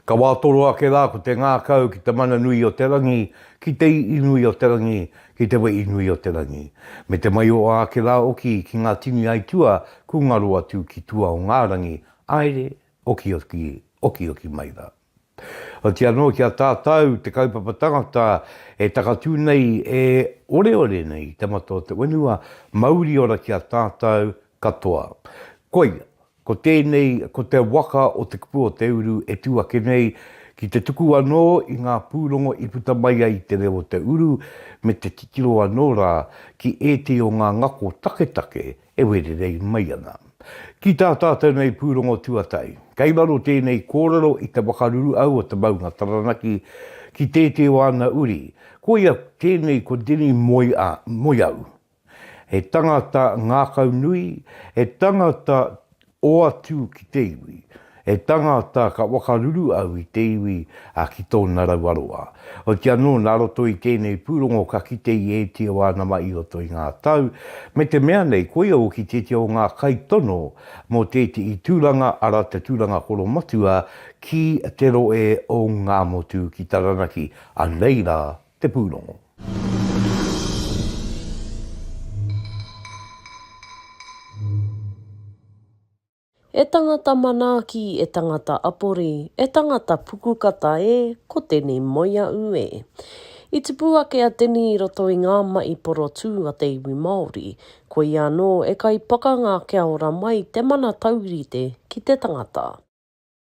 Ka wā toro ake rā ko te ngākau ki te mana nui o te rangi, ki te i'i nui o te rangi, ki te we'i nui o te rangi. Me te maioa ake rā oki ki ngā tini aitua ku ngaro atu ki tua o ngā rangi, aere, okioki, okioki mai rā. Otirā anō ki a tātau te kaupapa tangata e takatū nei e oreore nei te mata o te whenua, mauri ora ki a tātau katoa. Koia, ko tēnei, ko te waka o Te Kupu o Te Uru e tū ake nei ki te tuku anō i ngā pūrongo i puta mai ai te reo o te uru me te titiro anō rā ki ētehi o ngā ngako taketake E wērerei mai ana. Ki tā tātou nei pūrongo tuatahi, kei raro tēnei kōrero i te wakaruru au o te maunga Taranaki ki tētē o ana uri, koia tēnei ko Denny Moiau. He tangata ngākau nui, he tangata Hoatu ki te iwi. He tangata ka wakaruru au i te iwi a ki tōna rauaroa. Oiti anō nā roto i tēnei pūrongo ka kite i ētia wā nama i roto i ngā tau, me te mea nei koia hoki tētia o ngā kaitono mō tētihi tūranga ara te tūranga koromatua ki te roe o Ngāmotu ki Taranaki, anei rā te pūrongo. E tangata manaaki, e tangata apori, e tangata pukukata e, ko Teni Moiaʻu e. I tupu ake a Teni i roto i ngā maʻi porotū a te iwi Māori, koia anō e kai pakanga kia ora mai te mana taurite ki te tangata.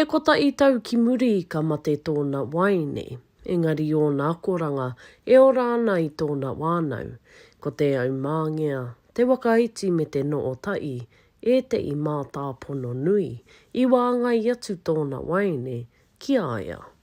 E kotahi tau ki muri ka mate tōna waeine, engari ōna akoranga e ora ana i tōna wānau. Ko Te Aumāngea, Te Wakaiti me Te Nootaʻi ētehi mātāpono nui i wāngai atu tōna waeine ki a ia.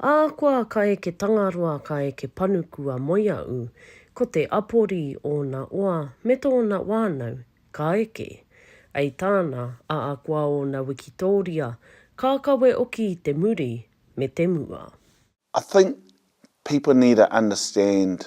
Ahakoa ka eke Tangaroa ka eke Panuku a Moiaʻu, ko Te Apori ōna oa me tōna wānau ka eke. Ai tāna, ahakoa ōna wikitōria, ka kawe oki i te muri me te mua. I think people need to understand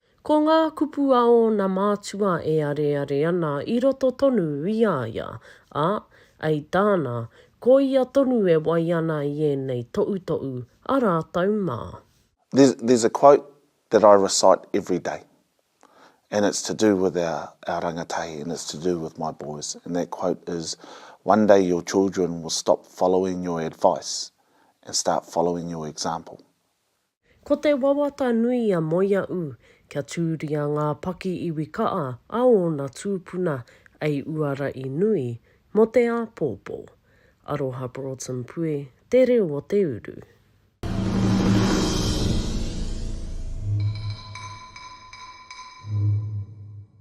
Ko ngā kupu a ōna mātua e areare ana i roto tonu i a ia, ā, ei tāna, ko ia tonu e wai ana i ēnei toʻutoʻu a rātou mā. There's there's a quote that I recite every day and it's to do with our our rangatahi and it's to do with my boys and that quote is one day your children will stop following your advice and start following your example. Ko te wawata nui a Moiaʻu kia tūria ngā paki iwi kaʻa a ōna tūpuna ei uara i nui mō te āpōpō. Aroha Broughton Pue, Te Reo o te Uru.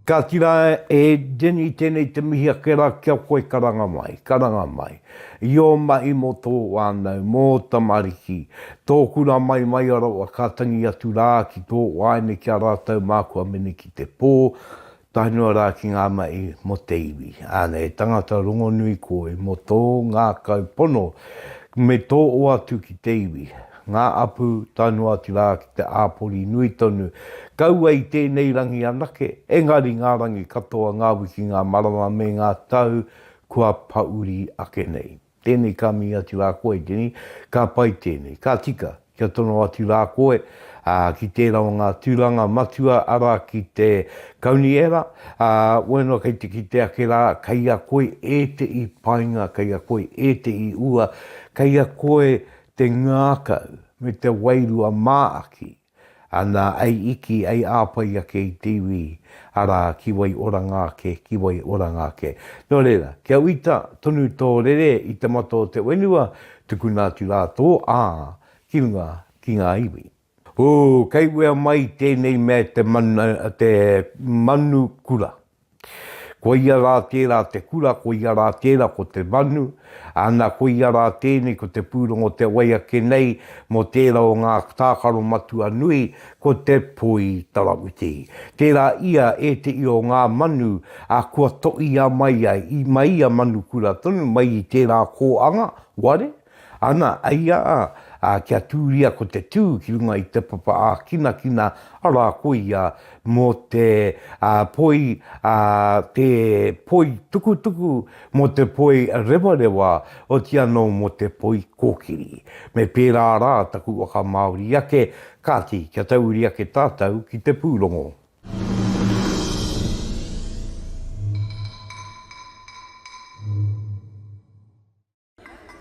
Ka ki ra e Jenny tenei te mihi ake ra ki a koe karanga mai, karanga mai. I o mahi mo to wanau, mo o tamariki, to kura mai mai a rawa ka tangi atu ra ki to waene ki a ratou ma kua mene ki te po, tae noa ra ki nga mahi mo te iwi. Ana e tangata rongonui koe mo to ngakau pono me to o atu ki te iwi, Ngā apu, tae noa atu rā ki te āpori nui tonu. Kaua i tēnei rangi anake, engari ngā rangi katoa, ngā wiki, ngā marama me ngā tau kua pauri ake nei. Tēnei ka mī atu rā koe, Denny, ka pai tēnei. Ka tika, kia tono atu rā koe, ā, ki tērā o ngā tūranga matua, arā, ki te Kauniera, ā, wēnā kei te kite ake rā, kei a koe ētehi painga, kei a koe ētehi ua, kei a koe te ngākau, me te wairua māaki, ana ei iki, ei āpai ake i te iwi, arā, ki wai oranga ake, ki wai oranga ake. Nō reira, kia uita tonu tō rere i te mata o te whenua, tukuna atu rā tō ā ki runga ki ngā iwi. Ū, kei wea mai tēnei mea te mana, te manu kura. Koia rā tērā te kura, koia rā tērā ko te manu, ana, koia rā tēnei ko te pūrongo te wai ake nei mō tērā o ngā tākaro matua nui, ko te poi tarawiti. Tērā ia ēteʻi o ngā manu a kua toʻia mai ai, i, mai ia manu kura tonu, mai i tērā kōanga, ware? Ana, ai a, a kia tūria ko te tū ki runga i te papa ākinakina, arā ko ia mō te a, poi, a, te poi tukutuku, mō te poi rewarewa, oti anō mō te poi kōkiri. Me pērā rā taku whakamāori ake, kāti, kia tauri ake tātou ki te pūrongo.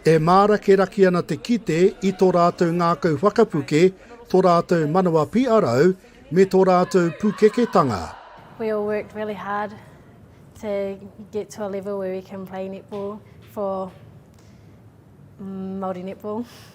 E mārakeraki ana te kite i tō rātou ngākau whakapuke, tō rātou manawa piʻarau, me tō rātou pukeketanga. We all worked really hard to get to a level where we can play netball for Māori netball.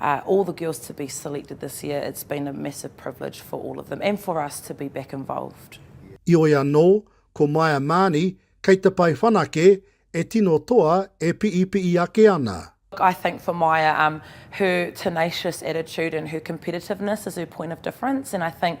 all the girls to be selected this year it's been a massive privilege for all of them and for us to be back involved. Ioi anō, ko Maia Maani, kei te pae whanake, e tino toa, e piipii ake ana. I think for Maia, her tenacious attitude and her competitiveness is her point of difference and I think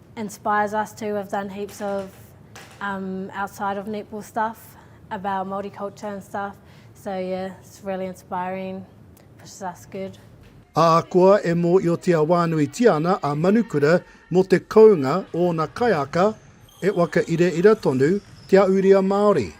inspires us too, we've done heaps of um, outside of netball stuff about Māori culture and stuff, so yeah, it's really inspiring, pushes us good. Ahakoa e mōiotia wānuitia ana a Manukura mō te kounga ōna kaiaka, e waka ireira tonu te ahurea Māori.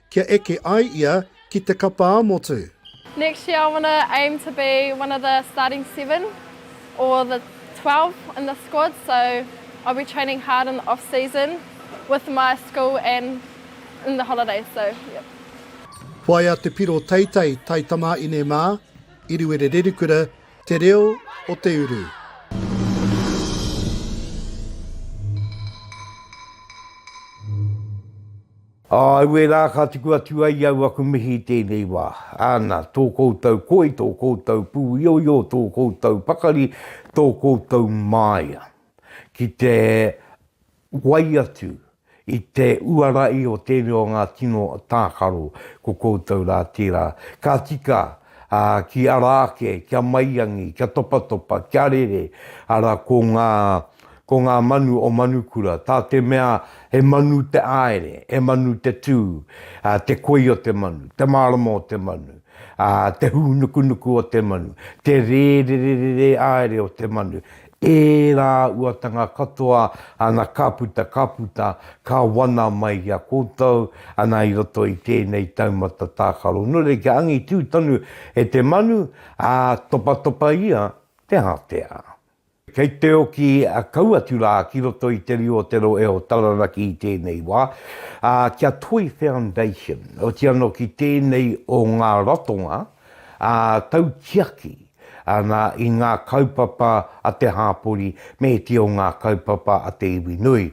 kia eke ai ia ki te kapa ā-motu. Next year I want to aim to be one of the starting seven or the twelve in the squad so I'll be training hard in the off season with my school and in the holidays so yep. Whaia te piro teitei tai tamaine ma Iriwere Rerikura te reo o te uru. Auē rā, ka tuku atu ai au aku mihi i tēnei wā. Ana, tō koutou koi, tō koutou pūioio, tō koutou pakari, tō koutou māia. Ki te wai atu i te uara i o tēnei o ngā tino tākaro, ko koutou rā tērā. Ka tika ā, ki ara ake, kia maiangi, kia topatopa, kia rere, ara, ko ngā, ko ngā manu o Manukura, tā te mea he manu te āere, he manu te tū, ā, te koi o te manu, te mārama o te manu, ā, te hūnukunuku o te manu, te rērererere āere o te manu, Ērā uatanga katoa ana ka puta, ka puta, ka wana mai i a koutou ana i roto i tēnei taumata tākaro. Nō reira kia angitū tonu e te manu, ā, topatopa ia te ātea. Kei te oki a kau atu rā ki roto i te rio o Te Rohe o Taranaki i tēnei wā, ā, ki a Toi Foundation, otiano ki tēnei o ngā ratonga, ā, tautiaki. Ana i ngā kaupapa a te hāpori me te o ngā kaupapa a te iwi nui.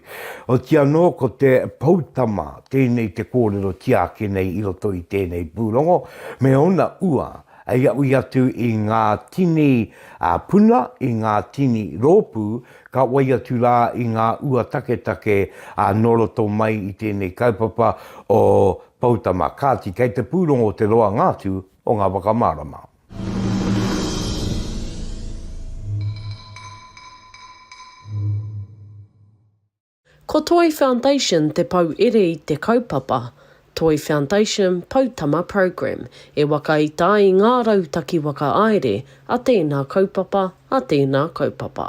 Oti anō ko te poutama tēnei te kōrero tiaki nei i roto i tēnei pūrongo me ōna ua hei aui atu i ngā tini puna, i ngā tini rōpū, ka wai atu rā i ngā ua taketake nō roto mai i tēnei kaupapa o Poutama. Kāti, kei te pūrongo te roanga atu o ngā whakamārama. Ko Toi Foundation te pouere i te kaupapa Toi Foundation Poutama Program e waka i tā i ngā rautaki whakaāere a tēnā kaupapa, a tēnā kaupapa.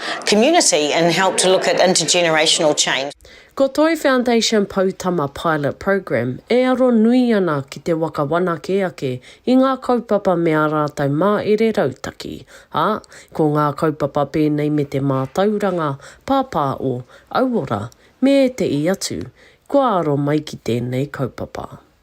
community and help to look at intergenerational change. Ko Toi Foundation Poutama Pilot Program e aro nui ana ki te waka whanake ake i ngā kaupapa me ā rātou māere rautaki, ā, ko ngā kaupapa pēnei me te mātauranga pāpāo, auora, me ēteʻi atu, kua aro mai ki tēnei kaupapa.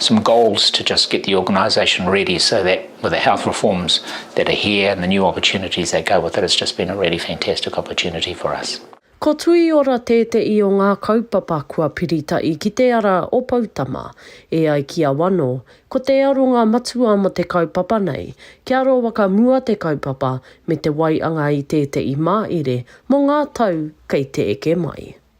some goals to just get the organisation ready so that with the health reforms that are here and the new opportunities that go with it, it's just been a really fantastic opportunity for us. Ko Tuiora tēteʻi o ngā kaupapa kua piritaʻi ki te ara o Poutama. E ai ki a Wano, ko te aronga matua mo te kaupapa nei, kia aro wakamua te kaupapa me te waianga i tēteʻi māʻire mo ngā tau kei te eke mai.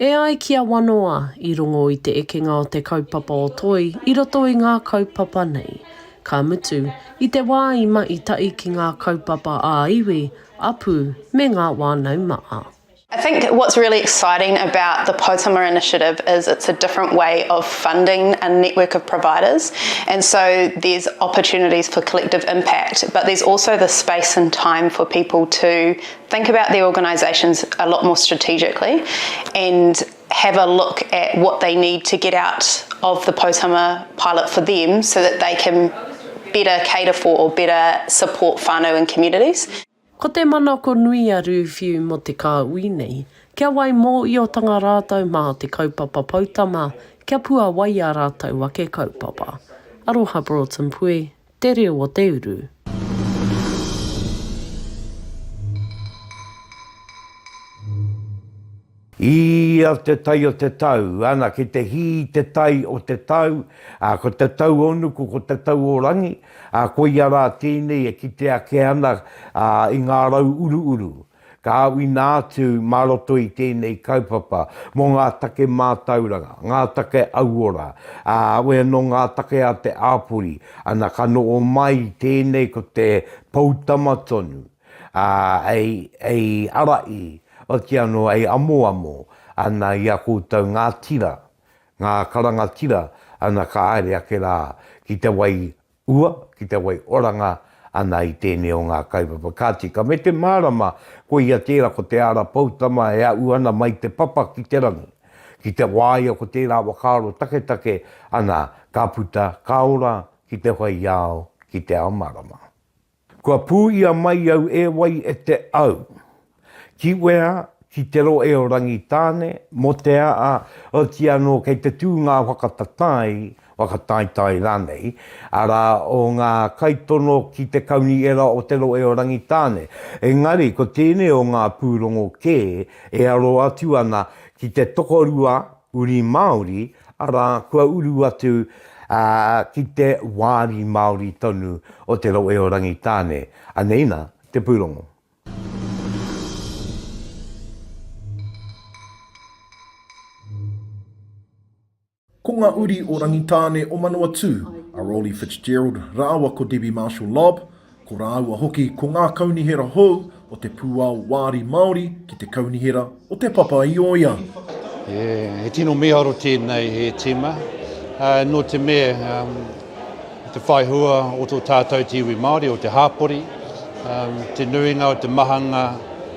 E ai ki a Wanoa, i rongo i te ekenga o te kaupapa o Toi i roto i ngā kaupapa nei. Ka mutu, i te wā i mahi tahi ki ngā kaupapa ā-iwi, ā-pū me ngā wānau maha. I think what's really exciting about the Poutama Initiative is it's a different way of funding a network of providers and so there's opportunities for collective impact but there's also the space and time for people to Think about their organisations a lot more strategically and have a look at what they need to get out of the Poutama pilot for them so that they can better cater for or better support whānau and communities. Ko te manako nui a Rūwhiu mō te kāhui nei, kia wai mōiotanga rātou mā te kaupapa Poutama kia puawai ā rātou ake kaupapa. Aroha Broughton Pue, Te reo o te uru. Hī a te tai o te tau, ana ki te hī te tai o te tau, ā, ko te tauonuku, ko te tau o rangi, ā, koia rā tēnei e kite ake ana, ā, i ngā rau uruuru, Ka awina atu mā roto i tēnei kaupapa mō ngā take mātauranga, ngā take auora, ā, awe anō ngā take a te āpori, ana ka noho mai i tēnei ko te poutama tonu, ā, hei ara i, otiia anō hei amoamo, ana i a koutou ngā tira, ngā karanga tira, ana ka haere ake rā ki te wai Ua, ki te wai oranga ana i tēnei o ngā kaupapa kāti, ka mete mārama koia tērā ko Te Ara Poutama e aʻu ana mai te papa ki te rangi. Ki te wā ia ko tērā whakaaro taketake ana ka puta, ka ora ki te whaiao, ki te ao marama. Kua pūia mai au e wai e te au. Ki wea, ki te roe o Rangitāne, mo te aa, oti anō kei te tū ngā whakatatāi, whakataetae rānei, arā, o ngā kaitono ki te kaunihera o te roe o Rangitāne. Engari, ko tēnei o ngā pūrongo kē e aro atu ana ki te tokorua Uri Māori, arā, kua uru atu ki te wāri Māori tonu o te rohe o Rangitāne. Anei nā te pūrongo. Ko ngā uri o Rangitāne o Manawatū, a Rolly Fitzgerald rāua ko Debbie Marshall Lobb, Ko rāua hoki ko ngā kaunihera hou o te pūao Wāri Māori ki te kaunihera o Te Papa i Oia. He tino mīharo tēnei e tīma, nō te mea i te whai hua o tō tātou te iwi Māori, o te hāpori, te nuinga o te mahanga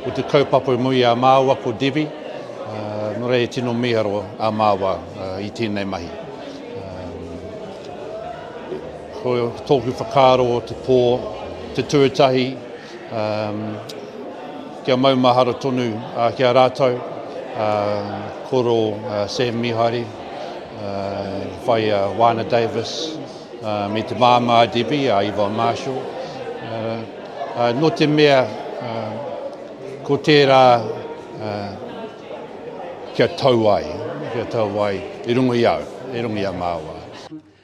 o te kaupapa i mua i a māua ko Debbie, nō reira he tino mīharo a māua i tēnei mahi. Ko tōku whakaaro o te pō, te tuatahi, kia maumahara tonu ki a rātou, koro Sam Mihari, whai a Wana Davis, me te māmā a Debbie, a Yvonne Marshall. Nō te mea, ko tērā kia tau ai, kia tau ai i runga i a au, i runga i a māua.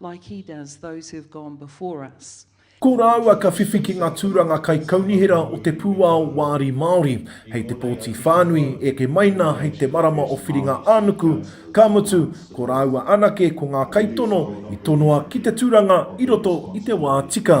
Like he does those who have gone before us. Ko rāua ka whiwhi ki ngā tūranga kaikaunihera o te pūao Wāri Māori, hei te pōti whānui, eke mai nā hei te marama o Whiringa-ā-nuku, ka mutu, ko rāua anake ko ngā kaitono i tonoa ki te tūranga i roto i te wā tika.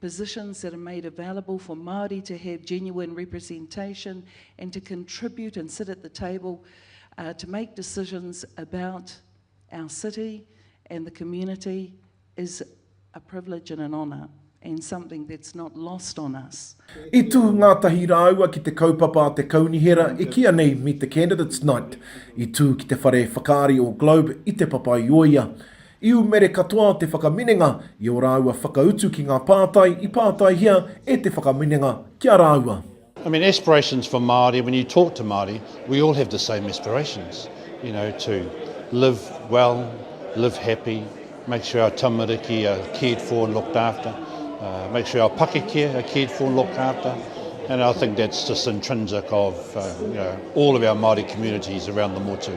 positions that are made available for Māori to have genuine representation and to contribute and sit at the table uh, to make decisions about our city and the community is a privilege and an honour and something that's not lost on us. I tū ngātahi rāua ki te kaupapa a te kaunihera e kia nei Meet the Candidates Night. I tū ki te whare whakaari o Globe i Te Papaioia. I umere katoa te whakaminenga i ō rāua whakautu ki ngā pātai i pātaihia e te whakaminenga ki a rāua. I mean aspirations for Māori, when you talk to Māori, we all have the same aspirations, you know, to live well, live happy, make sure our tamariki are cared for and looked after, make sure our pakeke are cared for and looked after, and I think that's just intrinsic of, you know, all of our Māori communities around the motu.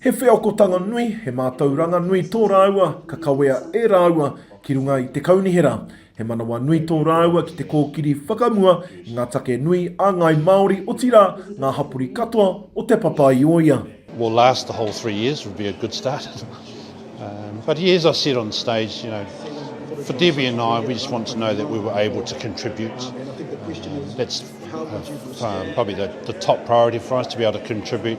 He wheakotanga nui, he mātauranga nui tō rāua ka kawea e rāua ki runga i te kaunihera. He manawa nui tō rāua ki te kōkiri whakamua i ngā take nui a ngāi Māori otirā ngā hapori katoa o Te Papa-i-ōia. will last the whole three years would be a good start um but yeah as I said on stage you know for Debbie and I we just want to know that we were able to contribute um that's uh, uh, probably the, the top priority for us to be able to contribute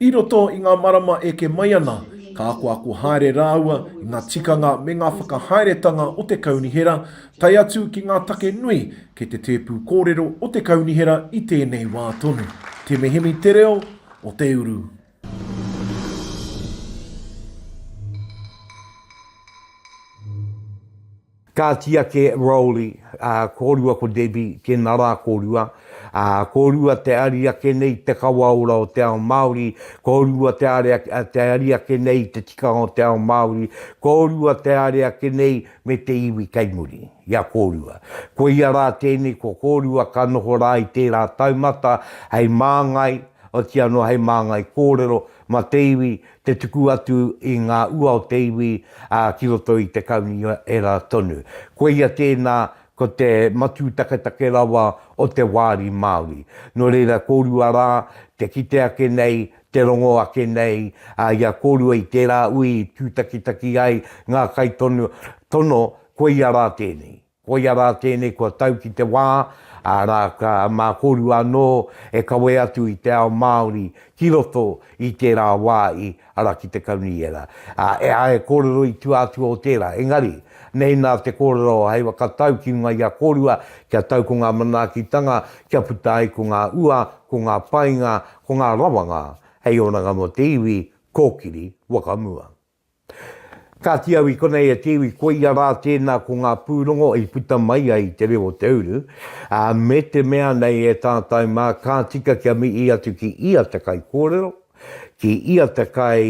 I roto i ngā marama eke mai ana, ka akoako haere rāua i ngā tikanga me ngā whakahaeretanga o te kaunihera, tae atu ki ngā take nui kei te tēpu kōrero o te kaunihera i tēnei wā tonu. Te mihemi te reo o te uru. Ka tiaki e Rowley, ā, kōrua ko Debbie, tēnā rā kōrua, ā, kōrua te ari ake nei i te kawa ora o te ao Māori, kōrua te are, te ari ake nei i te tikanga o te ao Māori, kōrua te are ake nei me te iwi kei muri i a kōrua. Koia rā tēnei ko kōrua ka noho rā i tērā taumata hei māngai, otianō hei māngai kōrero mā te iwi te tuku atu i ngā ua o te iwi ki roto i te kaunihera tonu. Koia tēnā, ko te matū taketake rawa o te wāri Māori. Nō reira, kōrua rā te kite ake nei, te rongo ake nei i a kōrua i tērā ui i tūtakitaki ai ngā kaitono, koia rā tēnei. Koia rā tēnei kua tau ki te wā, arā, ka, mā korua anō e kawe atu i te ao Māori ki roto i tērā wā i, arā, ki te Kaunihera. Ā, e ai he kōrero i tua atu o tērā, engari, nei nā te kōrero o Heiwa ka tau ki runga i a kōrua, kia tau ko ngā manaakitanga, kia puta ai ko ngā ua, ko ngā painga, ko ngā rawanga hei oranga mō te iwi, kōkiri, whakamua. Kāti au i konei e te iwi koia rā tēnā ko ngā pūrongo i puta mai ai i te reo o te uru, ā, me te mea nei e tātau mā ka tika kia mihi atu ki ia te kaikōrero, ki ia te kai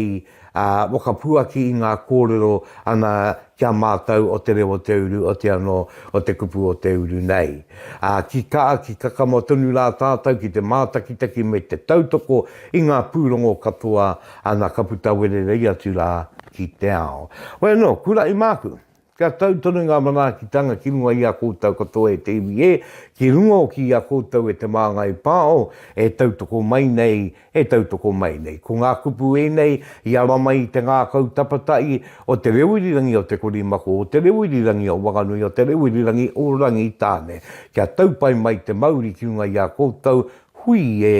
ā, whakapuaki i ngā kōrero ana ki a mātau o te reo o te uru oti anō o te kupu o te uru nei. Ā, ki kā, ki kakama tonu rā tātau ki te mātakitaki me te tautoko i ngā pūrongo katoa Ana ka puta wererei atu rā ki te ao. Hoi anō, kuraʻi māku. Kia tau tonu ngā manaakitanga ki runga i a koutou katoa e te iwi ē, ki runga hoki i a koutou e te māngai pāo e tautoko mai nei, e tautoko mai nei. Ko ngā kupu ēnei i ara mai i te ngākau tapataʻi o te reo irirangi o Te Korimako, o te reo irirangi o Wanganui, o te reo irirangi o Rangitāne. Kia tau pai mai te mauri ki runga i a koutou, hui ē,